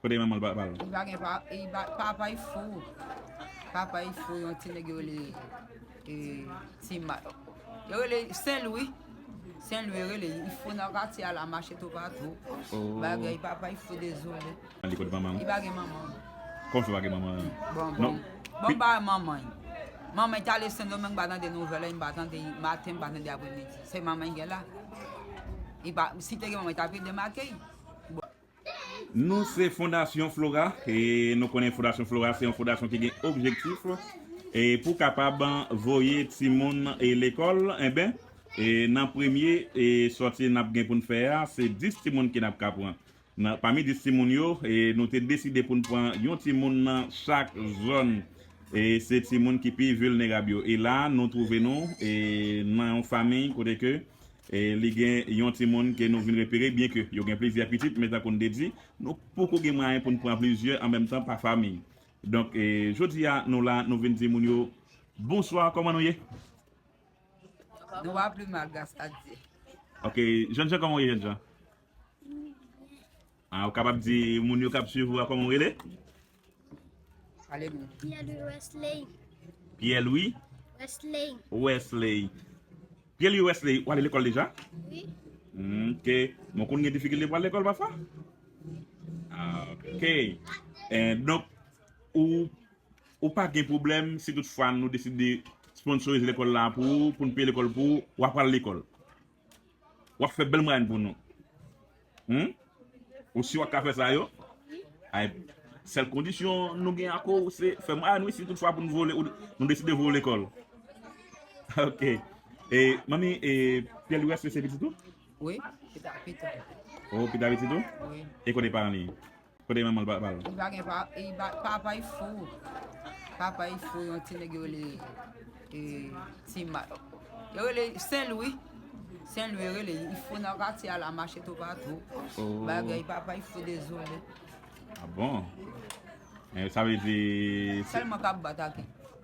Kote manman l papa l. Li pa gen pa e pa papa l fou papa l fou yon ti nèg yo rele e ti mat yo rele sen lwi sen lwi yo rele li fou nan katye a la mache tou patou bagay papa l fou dezole An li kot manman l. li pa gen manman Kòman l fè pa gen manman l bon bon bon m pa wè manman l manman l t ale sendomeng m pa tande nouvèl li m pa tande maten m pa tande apremidi se manman l gen la li pa si te gen manman l t ap ede m akey. Nou se Fondasyon Flora e nou konnen Fondasyon Flora se yon fondasyon ki gen objektif e pou kapab voye timoun e lekòl enben e nan premye e sòti nap gen poun fè a se 10 timoun ki nap ka pran nan pami 10 timoun yo e nou te deside poun pran yon timoun nan chak zòn e se timoun ki pi vilnerab yo e la nou twouve nou e nan yon famiy kote ke Li gen yon timoun ke nou vin repere byen ke yo gen plizyè pitit men tankou n te di nou poko gen mwayen pou n pran plizyè an menm tan pa fami. Donk jodi a nou la nou vin di moun yo bonswa kòman nou ye? Nou va pli mal gras a Dye. Ok jènjan kòman ou ye jènjan? Ou kapab di moun yo k ap swiv ou a kòman ou rele? Pierre-Louis Wesley. Pierre-Louis. Wesley. Wesley. Pierre-Louis Wesley, ou ale lekòl deja? Oui. Hmm, ok. Mwen konn gen difikilte pou ale lekòl pafwa? Ah, ok. Eh, donk, ou, ou pa gen problem si tout fwa nou deside sponsorize lekòl la pou ou, pou nou peye lekòl pou ou, ou apral lekòl? Wap fè bèl mwayenn pou nou. Humm ou si wap ka fè sa yo? Ay sèl kondisyon nou gen ak ou se fè mwayenn wi si tout fwa pou nou vole nou deside vole kòl. Ok e manmi e Pierre Louis se pitit ou? Wi, pitit mwen. Oh pitit ou? Wi. E kote paran li? Kote manmanl papa l. Li pa gen pa e papa y fou papa y fou yon ti nèg yo rele e ti ma yo rele sen lwi sen lwi yo rele li fou nan katye a la mache tou pa tou oh. bagay papa y fou dezole ah bon eh, sa vle di sèlman kap batake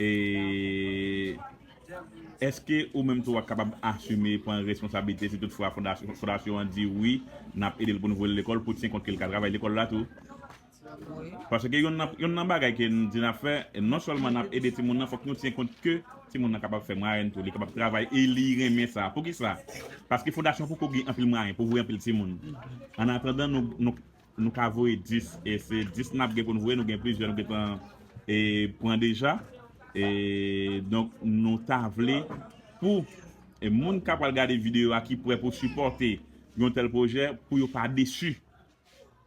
E Èske ou menm tou wap kapab asime pran responsablite si tout fwa fondasyon an di wi nap edel poun voyel lekòl pou tyen kont kel ka travay lekòl la tou? Wi. Paske yonn nan bagay ke nou di nap fè non sèlman nap ede timoun nan fòk nou tyen kont ke timoun nan kapab fè mwayenn tou li kapab travay e li renmen sa poukisa paske fondasyon poko gen anpil mwayen pou voye anpil timoun an atandan nou Nou ka voye 10 e se 10 nap gen poun voye nou gen plizyè nou gentan e pran deja e donk nou ta vle pou e moun ka pwal gade video a ki pwè pou sipòte yon tèl pwojè pou yo pa desu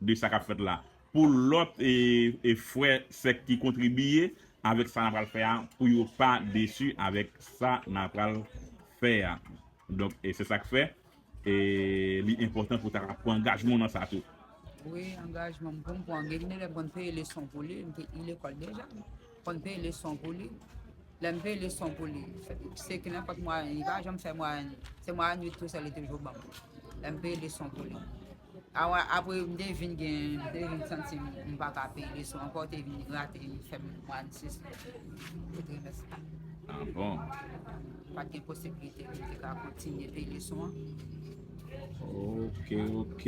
de sa kap fèt la pou lòt e e frè sè ki kontribiye avèk sa na pwal fè a pou yo pa desu avèk sa na pwal fè a donk e se sak fè. E li enpòtan pou ta ka pran angajman w nan sa tou. Wi, angajman m pou m pran. Gen elèv m konn peye leson pou li, m te li lekòl deja. M konn peye leson pou li. Lè m peye leson pou li, se ki nenpòt mwayèn, li pa janm fè mwayèn. Se mwayèn 8 tou sèl li toujou ban m. Lè m peye leson pou li. Awa apre m te vin gen m te vin santi m pa ka peye leson ankò te vin rate m fè mwa an sis pou trimès la. Ah bon. M pat gen posibilite pou m te ka kontinye peye leson an. Ok ok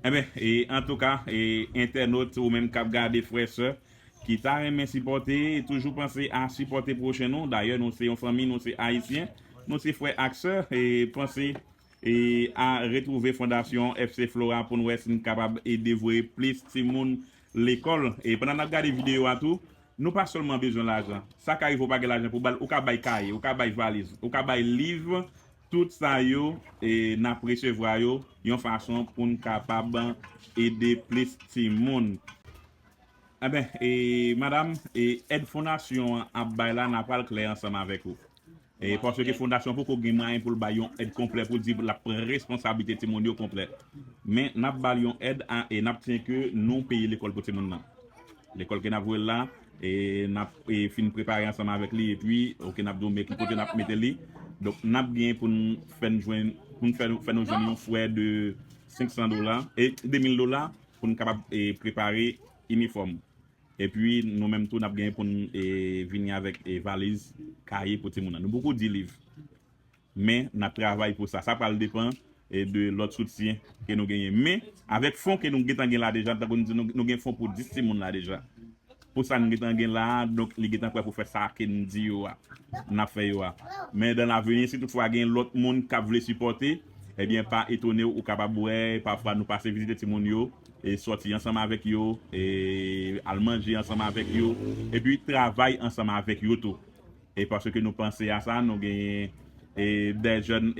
Enben e antouka e entènot ou menm kap gade frè sè ki ta renmen sipòte toujou panse a sipòte pwochen nou dayè nou se yon fanmi nou se ayisyen nou se frè ak sè e panse E a retrouve fondasyon FC Flora poun wè sin kapab ede voye plis timoun lekòl. E pandan nap gade videyo a tou, nou pa sèlman bezwen lajan. Sa ka rive ou pa gen lajan pou bal, ou ka bay kaye, ou ka bay valiz, ou ka bay liv, tout sa yo nap resevwa yo yon fason poun kapab ede plis timoun. Anben, madam, èd fondasyon an ap bay la nan pral klè ansanm avèk ou. Paske ke fondasyon poko gen mwayen pou l bay yon èd konplè pou l di l ap pran responsablite timoun yo konplè. Men, n ap ba l yon èd a e n ap siyen ke nou peye lekòl pou timoun nan. Lekòl ke n ap voye l la, n ap fin prepare ansanm avèk li epi ok n ap di w men ki kote n ap mete li. Donk, n ap gen pou n fè n jwenn, pou n fè fè nou jwenn yon frè de 500 dola, 2000 dola pou n kapab prepare inifòm. Epi nou menm tou n ap gen pou n vini avèk valiz kaye pou timoun nan. Nou poko di liv. Men n ap travay pou sa. Sa pral depan de lòt soutyen ke nou genyen. Men avèk fon ke nou gentan gen la deja, tankou nou di nou, nou gen fon pou 10 timoun la deja. Pou sa nou gentan gen la a, donk li gentan prè pou fè sa ke nou di yo a, n ap fè yo a. Men dan laveni, si tout fwa gen lòt moun k ap vle sipòte, ebyen pa etone w, ou kapab wè pafwa nou pase vizite timoun yo. sòti ansanm avèk yo, al manje ansanm avèk yo, epi travay ansanm avèk yo tou. E paske nou panse a sa, nou genyen de jèn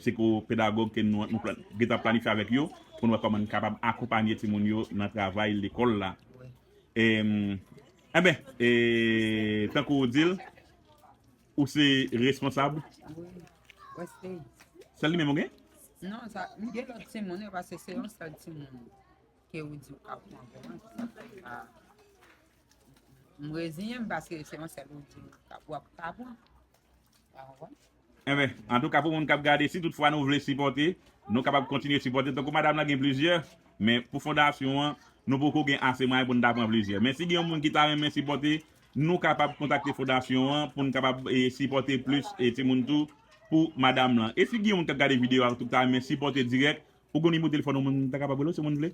psikopedagòg ke nou gen tan planifye avèk yo pou nou wè kòman nou kapab akonpanye timoun yo nan travay lekòl la. Enben, tankou ou di l. Ou se responsab? Wi, West State. Sèl li menm ou gen? Non, sa, m gen lòt timoun yo pase se yon sèl timoun ke ou di ou ka pran pou mwen, se sa fè m pa, m reziyen m paske se yon sèl ou di ou ka, ou ap ka pran. Ou konprann? Enben, antouka pou moun k ap gade, si tout fwa nou vle sipòte, nou kapab kontinye sipòte. Tankou madam lan gen plizyè, men pou fondasyon an, nou poko gen ase mwayen pou n ta pran plizyè. Men si gen yon moun ki ta renmen sipòte, Nou kapab kontakte fondasyon an pou n kapab sipòte plis timoun tou pou madam lan. E si gen yon moun k ap gade videyo a tou k ta renmen sipòte dirèk, ou gen yon nimero telefòn ou moun ta kapab rele w si moun vle?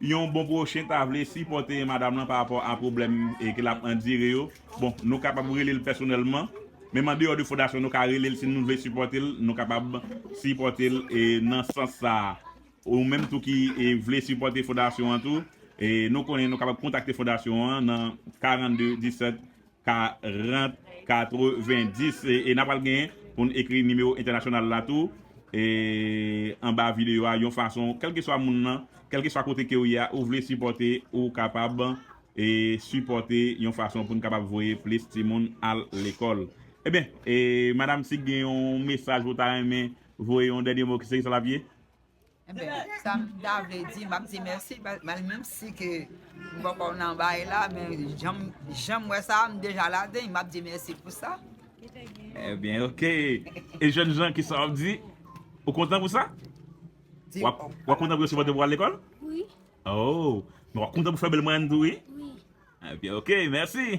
yon bon pwochen ta vle sipòte madam lan pa rapò a pwoblèm ke l ap andire yo, bon nou kapab rele l pèsonèlman, menm an deyò de fondasyon nou ka rele l si nou vle sipòte l, nou kapab sipòte l nan sans sa a. Ou menm tou ki vle sipòte fondasyon an tou, nou konnen nou kapab kontakte fondasyon an nan 42 17 40 90 e na pral gen pou n ekri nimewo entènasyonal la tou anba videyo a yon fason kèlkeswa moun nan kèlkeswa kote ke ou ye a ou vle sipòte ou kapab sipòte yon fason pou n kapab voye plis timoun al lekòl ebyen madam si gen yon mesaj ou ta renmen voye yon dènye mo se sa l ap ye. Enben, sa m ta vle di, m ap di mèsi, menm si ke m pa kò nan bay la, men jan m wè sa, m deja ladan, m ap di mèsi pou sa. Enben, ok. E jèn jan, kisa w ap di? Ou kontan pou sa? Di w. Ou kontan pou yo sipòte w pou al lekòl? Wi. Ou kontan pou fè bèl mwayèn tou, wi? Wi. Enben, ok, mèsi.